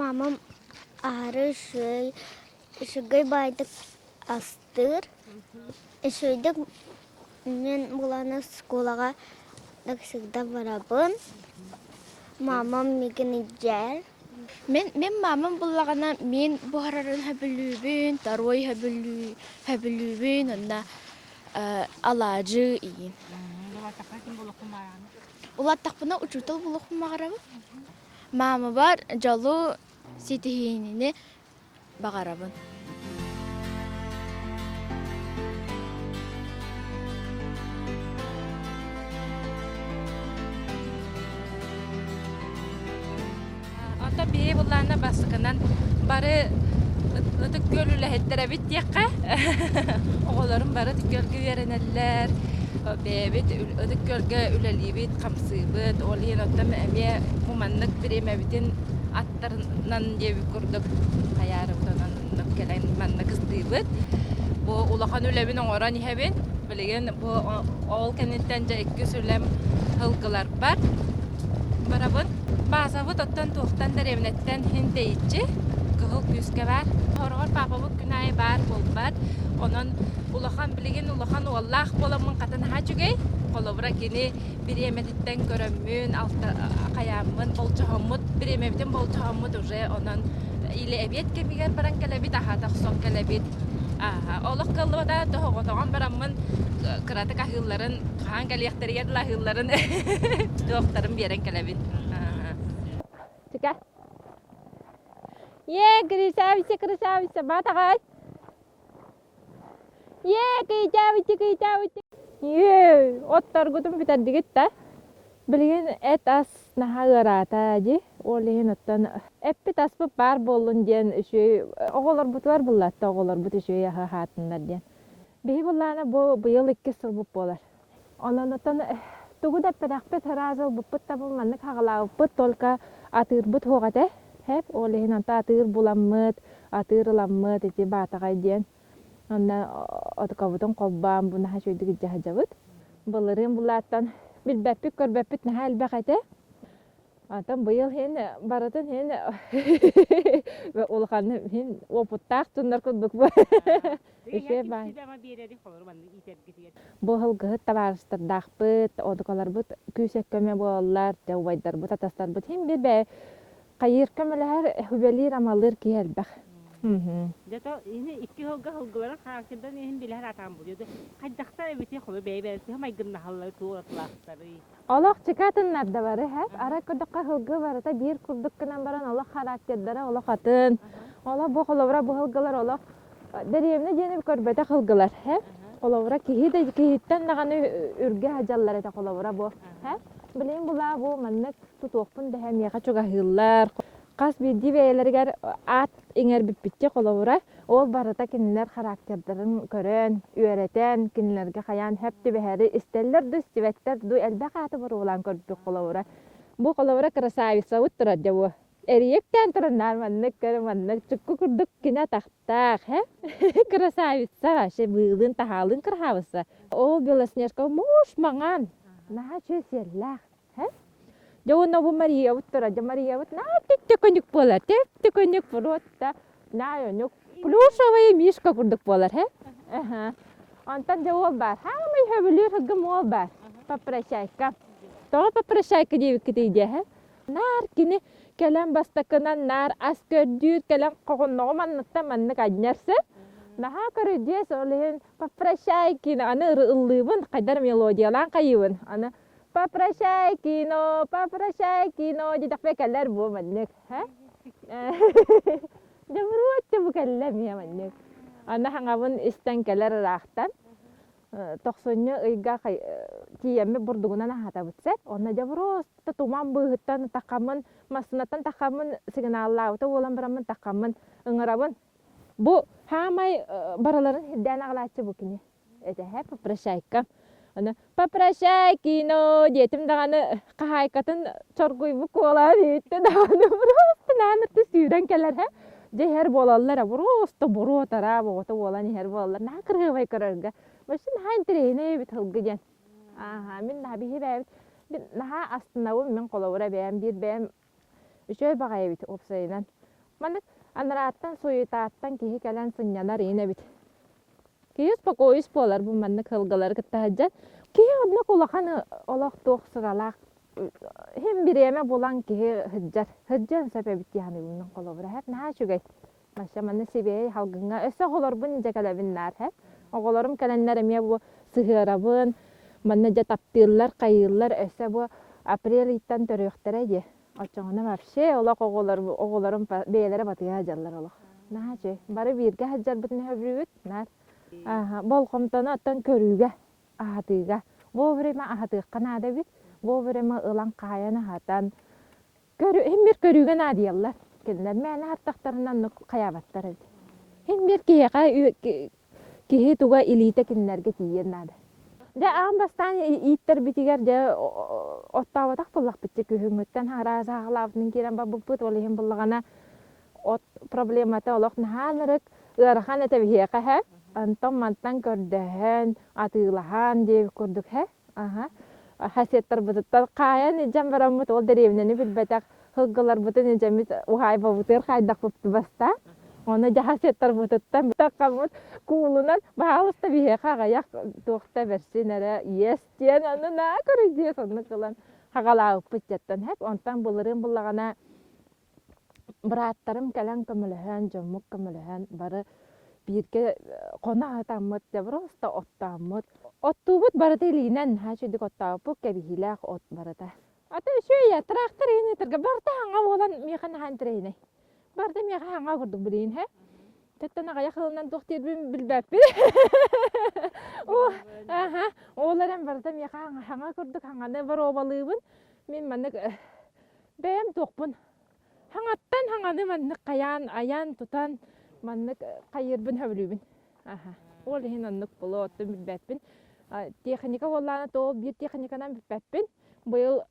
Мамам аһары үчүгэй үчүгэй баайдык астыыр. Үчүгэйдик мен буланы школаға всегда барабын. Мамам мигин иддияр. Мин мин маамам буллаҕына мин буһарарын сөбүлүүбүн, тарой сөбүлүү сөбүлүүбүн уонна, э, алаадьы иьин. Улааттахпына ким булуохпун баҕараҕын? Улааттахпына учуутал булуохпун баҕарабын. Маамабар дьолу, ситиһиини баҕарабын Ото бии буллаана басыкынан бары ытык күөл үлэһиттэр эбит диэххэ оҕолорум бары ытык күөлгэ үөрэнэллэр бэйэбит ытык күөлгэ үлэлиибит хамсыыбыт ол иһин оттон эмиэ муманнык бириэмэбитин тарынан диэбит курдук хайаарыбытынан кэлэн манна кыстыыбыт. Бу улахан үлэбин оҥорон иһэбин. Билигин бу ол кэнниттэн дьэ иккис үлэм сылгыларбар. Барабын. Баазабыт оттон туохтан дэриэбинэттэн иһин тэйиччи. Кыһыл күүскэ баар. Сороҕор паапабыт күн аайы баар буолбат. Онон улахан билигин улахан уоллаах буоламмын хата наһаа үчүгэй. Холобура кини бириэмэтиттэн көрөммүн, алта хайааммын, болдьоһоммут, бириэмэбитин болдьоһоммут уже онон или эбиэт кэмигэр баран кэлэбит, аһа тахсон кэлэбит. олох кыллыбата тоһоҕотоҕон бараммын кыратык аһыылларын хаһан кэлиэхтэригэр дылы аһыылларын туохтарын биэрэн кэлэбин сика е красавица красавица батаҕай Е, кыйтаабытти, кыйтаабытти. Үө, отторгутун бүтэрдигит да. Билигин эт-ас наһаа ыараата дии. Ол иһин оттон эппит аспыт баар буоллун диэн үчүгэй оҕолорбутугар буллатта оҕолорбут үчүгэй аһы аһаатыннар диэн. Биһи былаана бу быйыл иккис сылбыт буолар. Ононутан тугу да эппэтэхпит, ыраас ылбыппыт табыл маннык хаҕылаабыппыт, только атыырбыт суох этэ. Ол иһин онто атыыр буламмыт, атыыр ыламмыт ити баатаҕай диэн. Онно отукабытын холбоон бу наһаа үчүгэйдик дьаһадьабыт. Былырыын булааттан билбэппит-көрбөппүт наһаа элбэх этэ. Атын быйыл һин барытын һин улаханнык һин опыттаах туннар курдук бу икки баай Быһылгыһыт табаарыстардаахпыт, одукаларбыт күүсэккөмө буолаллар, убайдарбыт, атастарбыт һин би бээ хайыырка мөлөһөр үлэлиир амалыыр киһи элбэх. Мм Зато ини икки һылга һылгыларын характердан иһин билэһэр атаан буолуо хайдахта эбити хоно бэйэ бэйэ тыһы майгыннаһаллары туоратылаахтарый Олох чыкаатыннарда бары иһэр. Арай көрдөххө сылгы барыта биир курдук гынан баран олох характердара олох атын. Олох бу холобура бу сылгылар олох дэриэбинэ диэни көрбөтөх сылгылар иһэр. Холобура киһи да киһиттэн даҕаны үргэ садьаллар этэ холобура бу. Билигин булаа бу маннык тутуохпун дэһэ миэхэ чугаһыыллар. Хас биирдии бэйэлэригэр аат иҥэрбиппиччэ холобура, ол барыта кинилэр характердарын көрөн, үөрэтэн, кинилэргэ хайаан сөп түбэһэри истэллэр да истибэттэр дуу, элбэх ааты боруолаан көрбүт холобура. Бу холобура красавицабыт турар дьэ бу. Эрийэктээн туран наар маннык көр маннык чукку курдук кини атахтаах, һэ? Красавица вообще быылын таһаалыын кыраһаабысса. Ол Белоснежка муус маҥан, наһаа чүөсиэллээх. Дьэ уонна бу Мариябыт турар. Дьэ Мариябыт наа тэттекөнүк буолар. Тэттекөнүк фротта наайонук плюшевый мишка курдук буолар һэ. Онтон дьэ уол баар. Хаамай хөбүлүүр хыгым уол баар. Папрачайка. Тоҕо папрачайка диэбиккитий диэ һэ. Наар кини кэлэн бастакынан наар ас көрдүүр, кэлэн хоһунноҕу манныктан маннык анньарса. Наһаа көрүдьүөс ол иһин папрачайкины аны ыллыыбын, хайдар мелодиялаан хайыыбын. Аны Попрощай кино, попрощай кино диэтэхпэ кэлэр буо маннык. Дьобуруотча бу кэллэ миэ маннык. Аны хаҥабын истэн кэлэр ыраахтан тохсунньу ыйга тиийэммит бурдугунан аһатабыт сет. Онно дьобуруоста туман быыһыттан такаммын массыынаттан такаммын сигналлаабыта буолан бараммын такаммын ыҥырабын. Бу саамай барыларын сирдээн аҕалааччы бу кини. этэ һэ попрощайка аны попрощай кино диэтим даҕаны хаһаайкатын чоргуйбут куолаһын иһиттэ даҕаны просто наһаа ырты сүүрэн кэлэр һэ дьэ иһэр буолаллар ээ просто боруот араа боҕото буолан иһэр буолаллар наһаа кырыабай көрөргө вообще наһаа интэриэһинэй эбит сылгы диэн аха мин наһаа биһи бэйэбит наһаа астынабын мин холобура бэйэм биир бэйэм Үчүгэй баҕайы эбит уопсайынан. Маннык анарааттан, суетаттан киһи кэлэн сынньанар иин эбит. Киһи успокоюсь буолар бу маннык сылгылары кытта сылдьан. Киһи оннук улахан олох туох сыралаах иһин бириэмэ булан киһи сылдьар. Сылдьыан сөп эбит дии саныыбын холобура. Наһаа үчүгэй. Мася, маны сибиэй салгыҥҥа өссө оҕолорбун илдьэ кэлэбин наар һэ. Оҕолорум кэлэннэр эмиэ бу сыһыарабын. Манна дьэ таптыыллар, хайыыллар өссө бу апрель ыйтан төрүөхтэрэ дии. Оччоҕуна вообще олох оҕолор оҕолорум бэйэлэрэ батыйа сылдьаллар олох. Наһаа үчүгэй. Бары бииргэ сылдьарбытын өйдүүбүт наар. Болҕомтону оттон көрүүгэ, аһатыыга. Вовремя аһатыахха наада эбит. Вовремя ылан хаайан аһатан, Көрү, иһин биир көрүүгэ наадыйаллар. Кинилэр мээнэ аһаттахтарына оннук хайаабаттар эбит. Иһин биир киһиэхэ киһи туга илиитэ кинилэргэ тиийиэн наада. Дьэ аан бастаан ииттэрбитигэр дьэ оттооботох буллахпытча күһүҥҥүттэн араас саахалаабытын киирэн барбыппыт, ол иһин буллаҕына от проблемата олох наһаа ынырык, ыарахан этэ биһиэхэ иһэ. Онтон мантан көрдөһөн, атыылаһан диэбит курдук иһэ. Аһа. Хаһыаттарбытыттан хаайан илдьэн бараммыт, ол дэриэбинэни билбэтэх сылгыларбытын илдьэммит уһаайбабытыгар хайдахпыт бастаах. Ону дьэ хаһыаттарбытыттан билтэххэммит, куулунан баһаалыста биһиэхэ аҕыйах туох да бэрсин эрэ иэс диэн аны на көрүдьүөс оннук ылан хаҕалаабыппыт дьэттэн. Хэк онтон былырыын буллаҕына Бырааттарым кэлэн көмөлөһөн, дьоммут көмөлөһөн бары бииргэ хоно аһатаммыт, просто оттооммут. Оттуубут барыта илиинэн, наһаа үчүгдүк оттооппут, кэбиһиилээх от барыта. Ата үчүгэй, тыраахтар иһин ытырга барыта аҥа буолан миэхэ наһаа интэриэһинэй. Барыта миэхэ аҥа курдук билигин һэ. Чэттэн аҕыйах ылынан туох диирбин билбэппин. Оо, аһа, ол эрэн барыта миэхэ аҥа курдук аҥаны боруобалыыбын. Мин маннык бэйэм туохпун хаҥаттан хаҥаны маннык хайаан айаан тутан маннык хайыырбын сөбүлүүбүн аха ол иһин оннук плотту билбэппин техника буоллаана тоол биир техниканан билбэппин быйыл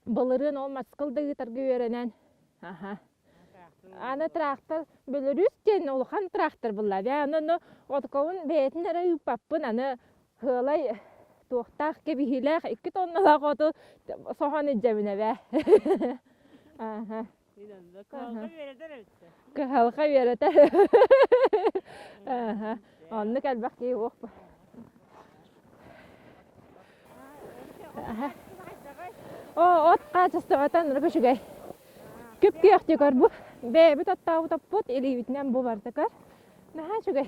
былырыын ол маскыл да ыытарга үөрэнэн аха аны тыраахтар бүлүрүүс диэн улахан тыраахтар булла бээ ону ону отукабын бэйэтин эрэ ыыппаппын аны Кыалай туохтаах кэбиһиилээх икки тонналаах оту соһон илдьэбинэ бээ. Кыһалҕа үөрэтэр. Оннук элбэх киһи уохпут. Оо, от хаачыстыбатан көчүгэй. Күп-күөх дьөгөр бу. Бэйэбит оттообут оппут, илиибитинэн бу бардакар. Наһаа үчүгэй.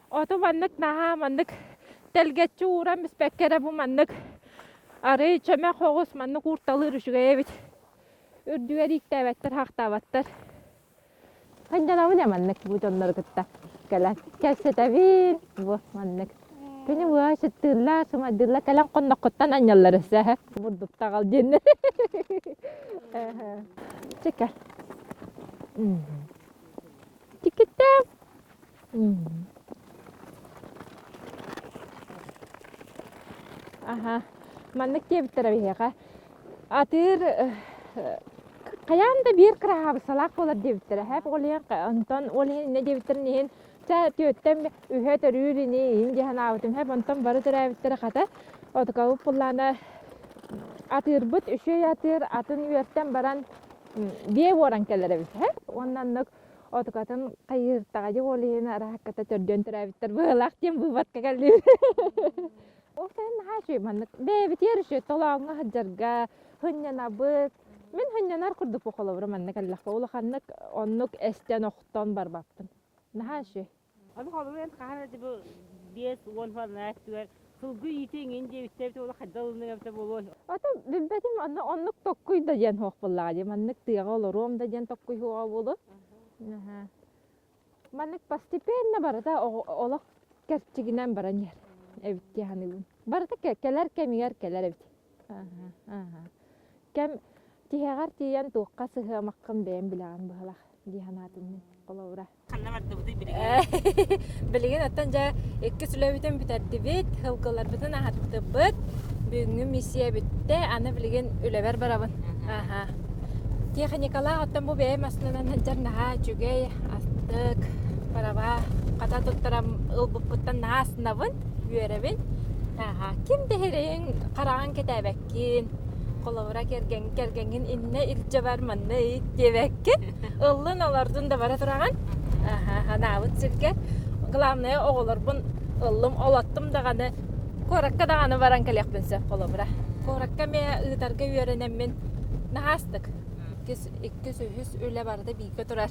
Оту маннык наһаа маннык тэлгэччи ууран бүспэккэ эрэ бу маннык арый чөмөх оҕус маннык уурталыыр үчүгэй эбит үрдүгэр ииктээбэттэр хахтаабаттар ханньалабыня маннык бу дьоннору кытта кэлэн кэпсэтэбин бу маннык кини бу сыттыыллар сымайдыыллар кэлэн хонноххуттан анньаллар өсө бурдуктаҕал диэнни чика тикиттээм Мм. Аха. Маннык диэбиттэрэ биһиэхэ. Атыыр э, хайаан да биир кыраһаабыссалаах буолар диэбиттэрэ. Хэп ол иһин онтон ол иһин иннэ диэбиттэрин иһин чэ түөттэн үһэ төрүүр ини иин дии санаабытым. Хэп онтон бары төрөөбүттэрэ хата отукабыт буллаана атыырбыт үчүгэй атыыр атын үөртэн баран биэ буоран кэлэр эбит. Уонна оннук отукатын хайыыртаҕа уол иһин араакката төрдүөн төрөөбүттэр быһылаах диэн быыбатка кэллиир ол сайын наһаа үчүгэй маннык бэйэбитигэр үчүгэй толооҥҥо сылдьарга сынньанабыт мин сынньанар курдук холобура манна кэллэхпэ улаханнык оннук эстэн охтон барбаппын наһаа үчүгэй Ону холуйан хаһан эрэ бу биэс уон уонна өттүгэр сылгы иитэ иҥин диэбиттэр улахан хайдах ылыныҥ эбитэ буолуой? Ата билбэтим онно оннук tokkуй да диэн суох буоллаҕа дии маннык тыаҕа олоруом да диэн tokkуй суоҕа буолуо. Маннык постепенно барыта олох кэрчигинэн баран иһэр эбит дии саныыбын. Барыта кэлэр кэмигэр кэлэр эбит. Кэм тиһэҕэр тиийэн туохха сыһыамаххын бэйэм билэҕин быһалах дии санаатым мин холобура. Ханна бардыбыты билигин? Билигин оттон дьэ иккис үлэбитин бүтэрдибит, һылгыларбытын аһаттыбыт. Бүгүҥҥү миссия бүттэ, аны билигин үлэбэр барабын. Аха. Техникалаах оттон бу бэйэ массыынанан сылдьар наһаа үчүгэй, астык, параба хата туттарам ылбыппыттан наһаа аснабын, үөрэбин. Аха. Ким да иһириҥ, хараҕын кэтээбэккин, холобура кэргэн кэргэҥҥин иннэ илдьэ бар, манна ый диэбэккин. ыллын олордун да бара тураҕын анаабыт сиргэ главное оҕолорбун ыллым олоттум даҕаны куоракка даҕаны баран кэлиэхпин сөп холобура куоракка эмиэ ыытарга үөрэнэммин наһаастык иккис үһүс үлэ барыта бииргэ турар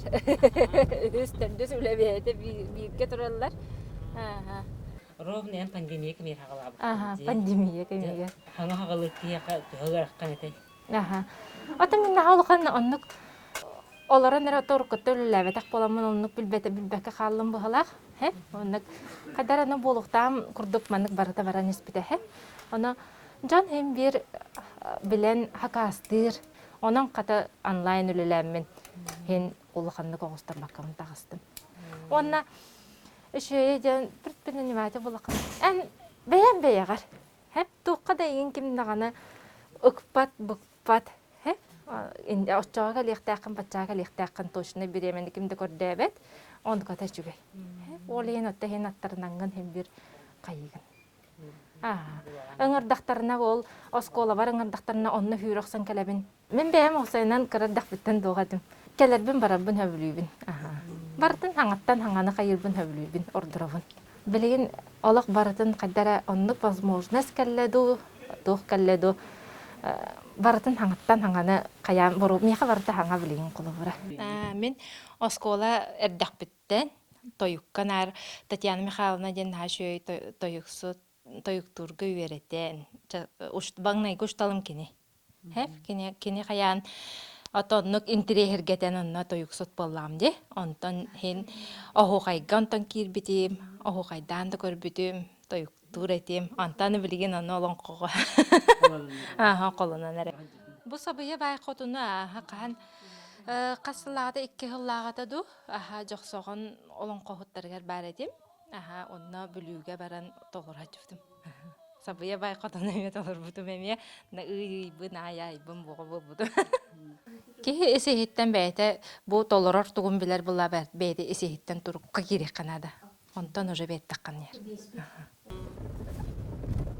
үһүс төрдүс үлэ бэйэтэ бииргэ тураллар ровно пандемия кэмиэхэ аҕалаабыт пандемия кэмиэгэ хаҥа хаҕылык киһиэхэ төһө ыараххан этэй Аха. Атын гыннаха улахан оннук олорон эрэ торуккатта үлэлээбэтэх буоламмын оннук билбэтэ билбэккэ хааллым быһалаах. Һэ, оннук хайдах аны буолуохтаах курдук маннык барыта баран испитэ. Һэ, ону дьон иһин биир билэн хакаастыыр. Онон хата онлайн үлэлээммин иһин улаханнык оҕустарбаккамын таҕыстым. Уонна үчүгэйэ диэн предприниматель булаххын эн бэйэм бэйэҕэр Хэп туохха да игин ким даҕаны ыкпат быкпат һэ оччоҕо кэлиэхтээххин баччаҕа кэлиэхтээххин точно бириэмэни ким да көрдөөбөт оннуката үчүгэй ол иһин отто иһин аттарнаҥҥын хилбир хайыгын аа ыҥырдахтарына ол оскуолабар ыҥырдахтарына онно сүүрэ охсон кэлэбин Мин бэйэм уопсайынан кыра эрдэхпиттэн дуоҕа этим. Кэлэрбин-барарбын сөбүлүүбүн. Аһа. Барытын хаҥаттан хаҥаны хайыырбын сөбүлүүбүн, ордоробун. Билигин олох барытын хайда эрэ оннук возможность кэллэ дуу, туох кэллэ дуу, э, барытын хаҥаттан хаҥаны хайаан боруо миэхэ барыта хаҥа билигин холобура. Э, мин оскуола эрдэхпиттэн тойукка наар Татьяна Михайловна диэн наһаа үчүгэй тойуксут тойуктуурга үөрэтэн багнайга усталым кини хэп кини кини хайаан отоннук интириэһиргэтэн онно тойуксут буоллаам ди онтон һин оһуохайга онтон киирбитим оһуохайдаан да көрбүтүм тойуктуур этим онтон билигин аны олоҥхоҕо аха холунан эрэ бу сабыйа бай хотуну аха хаһан хас сыллаата икки сыллааҕата ду аха жохсоҕон олоҥхоһуттарыгар баар этим Аһаа, онно Бүлүүгэ баран толорооччубутум. Сабыйа бай хотон эмиэ толорбутум эмиэ. На ыйыйбын, аайаайбын боҕо буолбутум. Киһи ис-иһиттэн бэйэтэ бу толорор тугун билэр була бэйэтэ ис-иһиттэн турукка киириэххэ наада. Онтон уже бэйэттэххэ наадыр.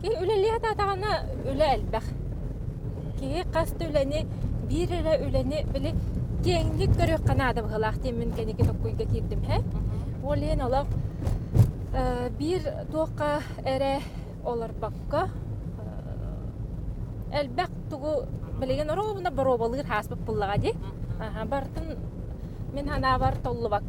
Үлэлиэ атаҕына үлэ элбэх. Киһи хас да үлэни, биир эрэ үлэни били киэҥник көрүөххэ наада быһыылаах диэммин кэники токкуйга киирдим иһэ. Ол иһин олох э биир туохха эрэ олорбокко э элбэх тугу билигин оруобуна боруобалыыр ааспыт буоллаҕа дии. Аха барытын мин санаабар толлубакка